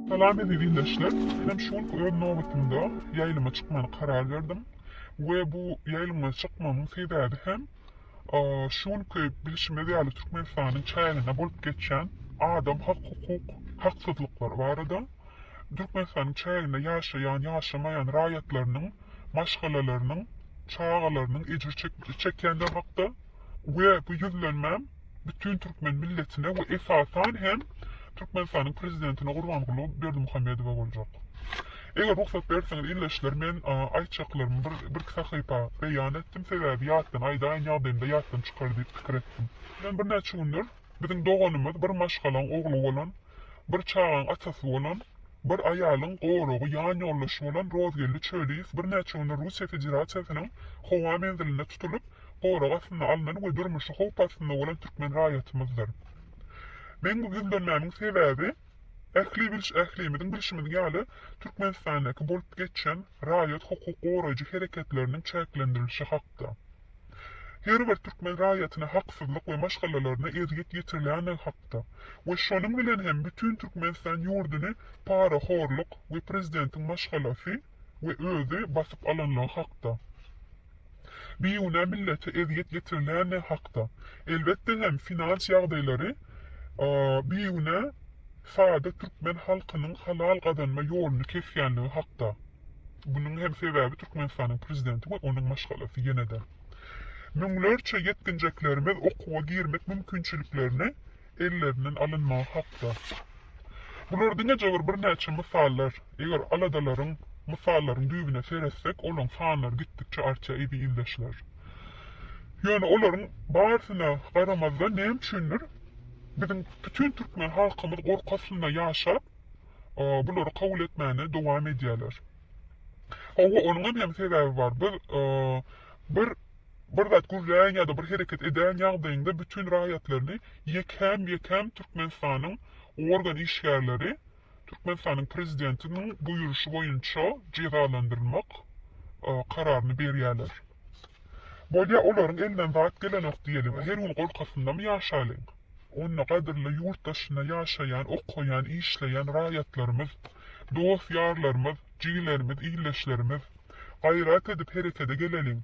Salam eziz ildeşler. Menem şu günki öz nobatymda ýaýlyma çykmany karar berdim we bu ýaýlyma çykmamyň sebäbi hem şu günki bilşimiz ýaly Türkmenistanyň çäginde bolup geçýän adam hak hukuk haksyzlyklary barada. Türkmenistanyň çäginde ýaşaýan, ýaşamaýan raýatlarynyň maşgalalarynyň, çagalarynyň ejir çekýändigi hakda we bu ýüzlenmä bütin türkmen milletine we esasan hem Türkmenistanyň Prezidentine Gurbanguly Berdimuhamedowa boljak. Eger rugsat berseňiz ildeşler men aýtjaklarymy birki sahypa beýan etdim sebäbi ýatdan aýdaýyn ýagdaýymda ýatdan çykar diýip pikir etdim. Men birnäçe gündir Biziň doganymyz bir maşgalaň ogly bolan, bir çagaň atasy bolan, bir aýalyň goragy, ýan ýoldaşy bolan Rozgeldi Çöliýew birnäçe günde Russiýa Federasiýasynyň howa menzilinde tutulyp, gorag astyna alnan we durmuşy howp astynda bolan türkmen raýatymyzdyr. Meň bu ýüzlenmämiň sebäbi, ähli biliş ählimiziň bilşimiz ýaly, Türkmenistandaky bolup geçen raýat hukuk goraýjy hereketleriniň çäklendirilişi hakda. her bir türkmen raýatyna haksyzlyk we maşgalalaryna ezýet ýetirilýändigi hakda we şonuň bilen hem bütin Türkmenistan ýurduny parahorluk we prezidentiň maşgalasy we özi basyp alanlygy hakda, bigünä millete ezýet ýetirilýändigi hakda, elbetde hem finans ýagdaýlary bigünä sada türkmen halkynyň halal gazanma ýoluny kesýändigi hakda. Munuň hem sebäbi Türkmenistanyň prezidenti we onuň maşgalasy ýene-de. Müňlerçe ýetginjeklerimiz okuwa girmek mümkinçiliklerini ellerinden alynmagy hakda. Bular diňe jabr birnäçe mysallar. Eger aladalaryň, mysallaryň düýbüne seretsek, olaň sanlary gitdikçe artýar eziz ildeşler. Ýöne olaryň barysyna garamazdan näme üçindir biziň bütin türkmen halkymyz gorky astynda ýaşap, bulary kabul etmäne dowam edýärler. Hawa, onuňam hem sebäbi bar. Biz bir bir zat gürlän ýa-da bir hereket edän ýagdaýynda bütin raýatlaryny ýekäm-ýekäm Türkmenistanyň organ işgärleri Türkmenistanyň prezidentiniň buýruşy boýunça jezalandyrmak kararyny berýärler. Bolýa olaryň elinden zat gelenok diýeliň, her gün gorkasyndamy ýaşalyň? Onda gadyrly ýurt daşynda ýaşaýan, okaýan, işleýän raýatlarymyz, dost-ýarlarymyz, jigilerimiz, ildeşlerimiz! Gaýrat edip herekede geleliň!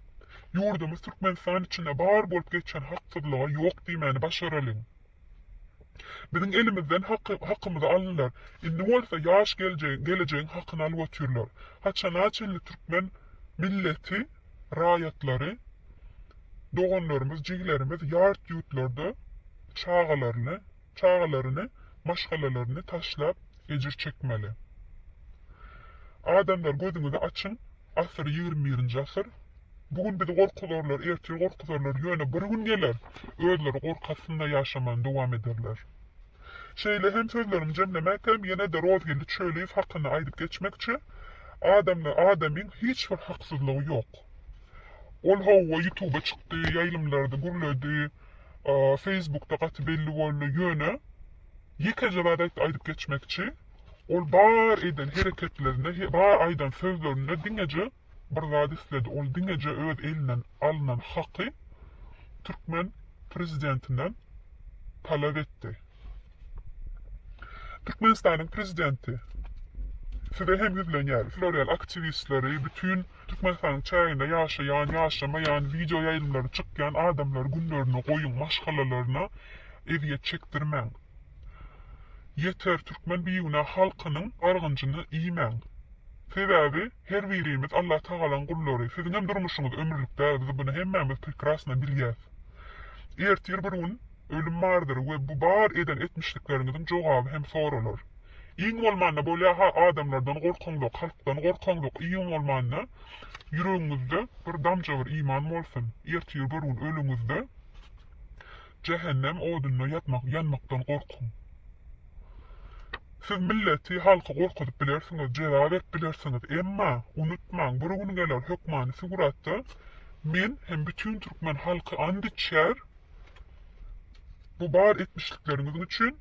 Ýurdumyz Türkmenistan içinde bar bolup geçen haksyzlyga ýok diýmäni başaralyň! Biziň elimizden haky, hakymyzy aldylar, indi bolsa ýaş geljegiň, gelejegiň hakyny alyp otyrlar. Haçana çenli türkmen milleti? raýatlary, doganlarymyz, jigilerimiz ýart ýurtlarda çagalaryny, çagalaryny, maşgalalaryny taşlap ejir çekmeli. Adamlar gözüňizi açyň, asyr ýigrimi birinji asyr, bu gün bizi gorkuzarlar, ertir gorkuzarlar, ýöne bir gün geler, özleri gorky astynda ýaşamany dowam ederler. Şeýle hem sözlerimi jemlemäkäm ýene-de Rozgeldi Çöliýew hakynda aýdyp geçmekçi, Adamda adamyň hiç bir haksyzlygy ýok. Ol hawa ýutuba çykdy, ýaýlymlarda gürledi, feýsbukda gaty belli boldy, ýöne ýekeje zat aýtdy aýdyp geçmekçi, ol bar eden hereketlerinde, bar aýdan sözlerinde diňeje bir zat isledi, ol diňeje öz elinden alnan haky türkmen prezidentinden talap etdi. Türkmenistanyň prezidenti, size hem ýüzlenýäris, sizler ýaly aktiwistleri, bütin Türkmenistanyň çäginde ýaşaýan, ýaşamaýan, wideo ýaýlymlary çykýan adamlary günlerine goýuň, maşgalalaryna ezýet çekdirmäň. Ýeter, türkmen bigünä halkynyň argynjyny iýmäň. Sebäbi, Her birimiz Allah Tagalaň gullary, siziňem durmuşyňyz ömürlik däl biz buny hemmämiz prekrasno bilýäs. Ertir bir gün ölüm bardyr we bu bar eden etmişlikleriňiziň jogaby hem soralar. Iň bolmanda bolýaha adamlardan gorkaňzok halkdan gorkaňzok iň bolmanda ýüregiňizde bir damja bir iman bolsun ertir bir gün ölüňizde jähennem odunda ýatmak ýanmakdan gorkuň. Siz milleti halky gorkuzyp bilersiňiz jeza berip bilersiňiz emma unutmaň bir gün geler hökmany suguratda men hem bütün türkmen halky ant içer bu bar etmişlikleriňiziň üçin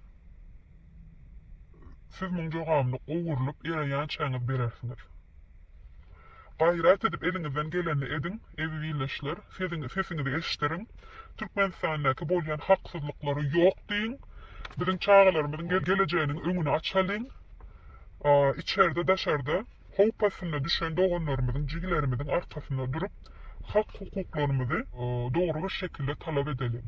siz muň jogabyny gowurlyp ýere ýançaňyz berersiňiz. Gaýrat edip eliňizden gelenini ediň, eziz ildeşler, sesiňizi eşideriň, Türkmenistandaky bolýan haksyzlyklary ýok diýiň, biziň çagalarymyzyň gelejeginiň öňüni açalyň, içerde daşarda howp astyna düşen doganlarymyzyň, jigilerimiziň arkasynda durup, hak-hukuklarymyzy dogry bir şekilde talap edeliň.